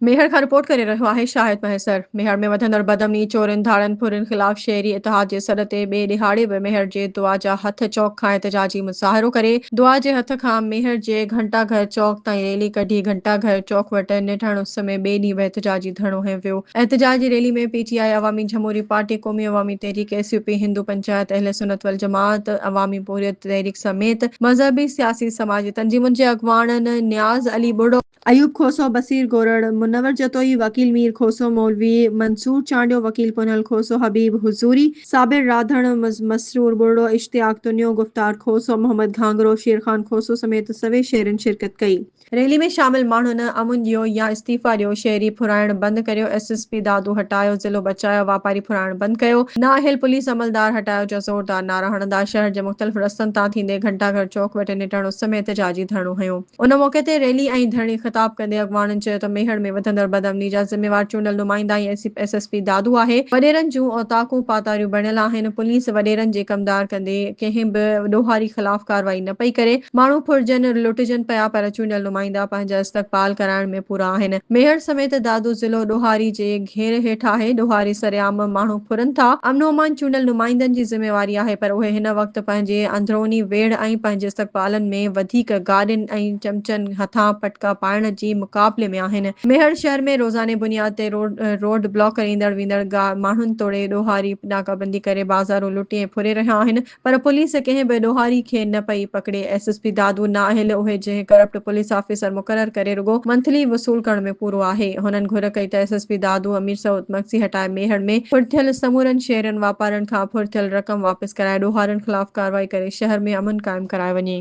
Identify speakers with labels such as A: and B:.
A: ميهڙ کان رپورٽ ڪري رهيو آهي شاهد مهيسر. ميهڙ ۾ وڌندڙ بدامني، چورين، ڌاڙن ڦرين خلاف شهري اتحاد جي سڏ تي ٻئي ڏهاڙي به ميهڙ جي دعا جا هٿ چوڪ کان احتجاجي مظاهرو ڪري دعا جي هٿ کان ميهڙ جي گهنٽا گهر چوڪ تائين ريلي ڪڍي گهنٽا گهر چوڪ وٽ نيٺاڻ اس ۾ ٻئي ڏينهن به احتجاجي ڌرڻو هنيو ويو احتجاجي ريلي ۾ P T I Awami Jamhoori party Qaumi Awami Tehreek S U P Hindu panchayat Ahl Sunnat والجماعت عوامي پورهيت تحريڪ سميت مذهبي سياسي سماجي تنظيمن جي اڳواڻن نياز علي ٻڙو ايوب کوسو، بصير گورڙ، منور جتوئي، وڪيل مير کوسو مولوي، منصور چانڊيو، وڪيل ڪنهل کوسو، حبيب حضوري، صابر راڌڻ، مسرور ٻرڙو، اشتياق تنيو، گفتار کوسو، محمد گهانگهرو، شيرخان کوسو سميت سوين شهرين شرڪت ڪئي. ريلي ۾ شامل ماڻهن امن ڏيو يا استعيفا ڏيو، شهري ڦرائڻ بند ڪريو، ايس ايس پي دادو هٽايو، ضلعو بچايو، واپاري ڦرائڻ بند ڪيو، نااهل پوليس عملدار هٽايو جا زوردار نعرا هڻندا شهر جي مختلف رستن تان ٿيندي گهنٽا گهر چوڪ وٽ نٽهڙ اس ۾ احتجاجي ڌرڻو هنيو. ان موقعي تي ريلي ۽ ڌرڻي خطاب ڪندي اڳواڻن چيو ته ميهڙ ۾ وڌندڙ بدامني جا ذميوار چونڊيل نمائندا ۽ ايس ايس پي دادو آهي، وڏيرن جون اوطاقون پاتاريون بڻيل آهن، پوليس وڏيرن جي ڪمدار ڪندي ڪنهن به ڏوهاري خلاف ڪارروائي نه پئي ڪري، ماڻهو ڦرجن، لٽجن پيا پر چونڊيل نمائندا پنهنجا استقبال ڪرائڻ ۾ پورا آهن، ميهڙ سميت دادو ضلعو ڏوهاري جي. کير هيٺ آهي، ڏوهاري سرعام ماڻهو ڦرن ٿا، امن و امان چونڊيل نمائندن جي ذميواري آهي پر اهي هن وقت پنهنجي اندروني ويڙهه ۽ پنهنجي استقبالن ۾ وڌيڪ گاڏين ۽ چمچن هٿان پٽڪا پائڻ جي مقابلي ۾ آهن، ميهڙ شهر ۾ روزاني بنياد تي روڊ بلاڪ ڪري ايندڙ ويندڙ ماڻهن توڙي ڏوهاري ناڪابندي ڪري بازارون لٽي ۽ ڦري رهيا آهن، پر پوليس ڪنهن به ڏوهاري کي نه پئي پڪڙي، ايس ايس پي دادو نااهل اهي جنهن ڪرپٽ پوليس آفيسر مقرر ڪري رڳو منٿلي وصول ڪرڻ ۾ پورو آهي، هنن گهر ڪئي ته S S P Dadu Amir Saud Magsi هٽائي ميهڙ ۾ ڦڙ ٿيل سمورن شيئرن واپارن کان ڦڙ ٿيل رقم واپس ڪرائي ڏوهارين خلاف ڪارروائي ڪري شهر ۾ امن قائم ڪرايو وڃي.